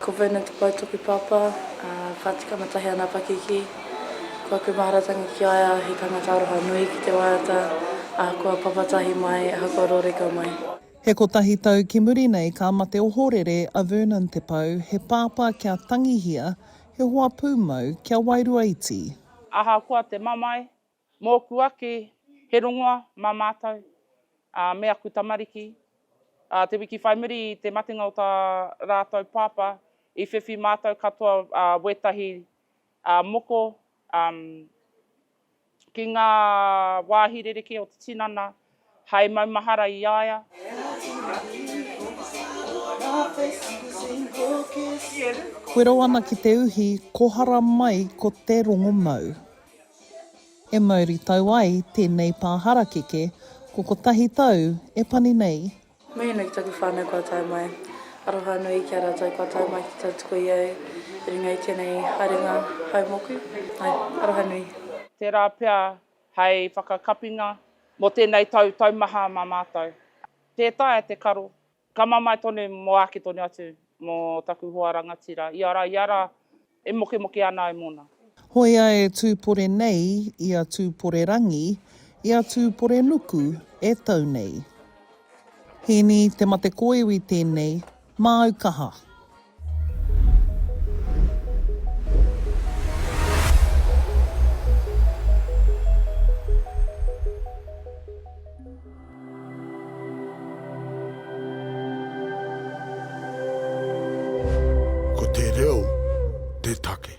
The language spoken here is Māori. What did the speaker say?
Ko Vernon Te Pou toku pāpā, ā, ka tika matahi ana a Pakiki. Ko aku māratangi ki a ia, he tangata aroha nui ki te waiata, ahakoa papatahi mai, ahakoa rōreka mai. He kotahi tau ki muri nei ka mate ohorere a Vernon Te Pou, he pāpā kia tangihia, he hoa pūmau kia wairua iti. Ahakoa te mamae, Mōku ake, he rongoa mā mātou, ā, me aku tamariki. Ā, te wiki whai muri i te matenga o tā rātou pāpā, i whiwhi mātou katoa, ā, wētahi, ā, moko, ā, ki ngā wāhi rerekē o te tinana, Hai maumahara i a ia. Wero ana ki te uhi, kohara mai ko te rongomau. E mauri tau ai tēnei pā harakeke, ko kotahi tau e pani nei. Mihi ana ki taku whanau kua tae mai. Aroha nui ki a ratou kua tae mai ki tautoko i au i runga i tenei haerenga haumoku. Aroha nui. Tera pea Hei whakakapinga mō tēnei tau taumaha mā mātou, tē taea te karo, ka mamae tonu mō āke tonu atu mō taku hoa rangatira, ia rā, ia rā, e mokemoke ana ai mōna. Hoea e Tūpore nei, i a Tūpore rangi, i a Tūpore nuku e tau nei. Hēni te mate kōiwi tēnei, Māu kaha. Ko te reo te take.